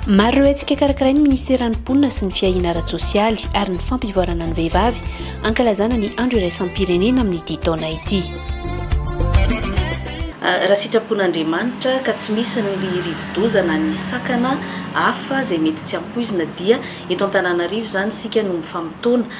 maro ireo hetsika karakarain'ny ministeran'ny mponina sy ny fiahiana ara-tsosialy ary ny fampivoarana ny vehivavy ankalazana ny andro iraisam-pirenena amin'ny ity taona ity ah, raha sitrapon'andriamanitra ka tsy misy ny rivodozana ny sakana hafa izay mety tsy ampoizina dia eto an-tananarivo izany isika no mifamotoana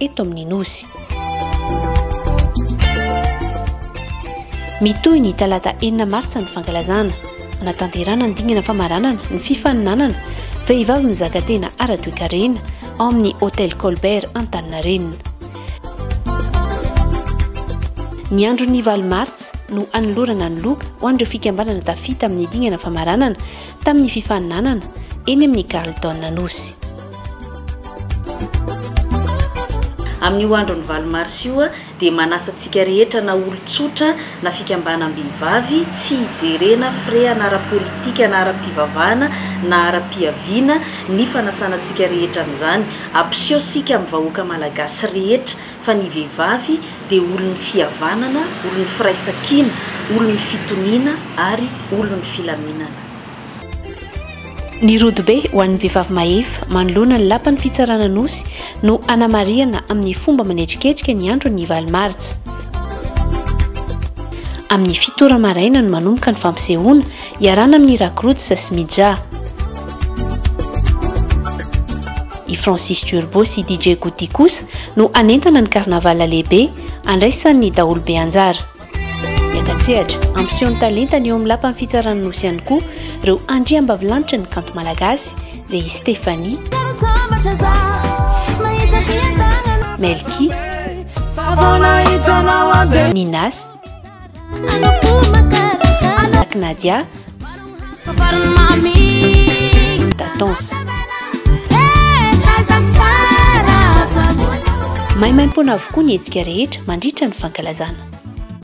eto amin'ny Nosy. Mitohy ny talata enina martsa ny fankalazana hanatanterana ny dingana famaranana ny fifaninanana vehivavy mizaka tena ara-toekarena ao amin'ny Hotel Colbert Antaninarenina. Ny andron'ny valo martsa no anolorana ny loka ho an'ireo fikambanana tafita amin'ny dingana famaranana tamin'ny fifaninanana eny amin'ny Carlton Anosy. Amin'io andron'ny valo marsa io dia manasa antsika rehetra na olon-tsotra na fikambanam-behivavy, tsy hijerena firehana ara-politika na ara-pivavahana na ara-piaviana ny fanasana antsika rehetra an'izany. Ampiseho isika amin'ny vahoaka malagasy rehetra fa ny vehivavy dia olon'ny fihavanana, olon'ny firaisankina, olon'ny fitoniana ary olon'ny filaminana. Ny rodobe ho an'ny vehivavy mahefa manoloana ny lapan'ny fitsarana Anosy no hanamarihana amin'ny fomba manetriketrika ny andron'ny valo martsa. Amin'ny fito ora maraina no manomboka ny fampisehoana iarana amin'ny Rakrots sy Mija. I Francis Turbo sy DJ Goody kosa no hanentana ny carnaval lehibe andraisan'ny daholobe anjara. Miaka-tsehatra, ampiseho ny talentany eo amin'ny lapan'ny fitsarana Nosy ihany koa ireo andriambavilanitra ny kanto malagasy dia i Stéphanie, Melky, Ninas, Black Nadia, Tatons. Maimaimpoana avokoa ny hetsika rehetra mandritra ny fankalazana.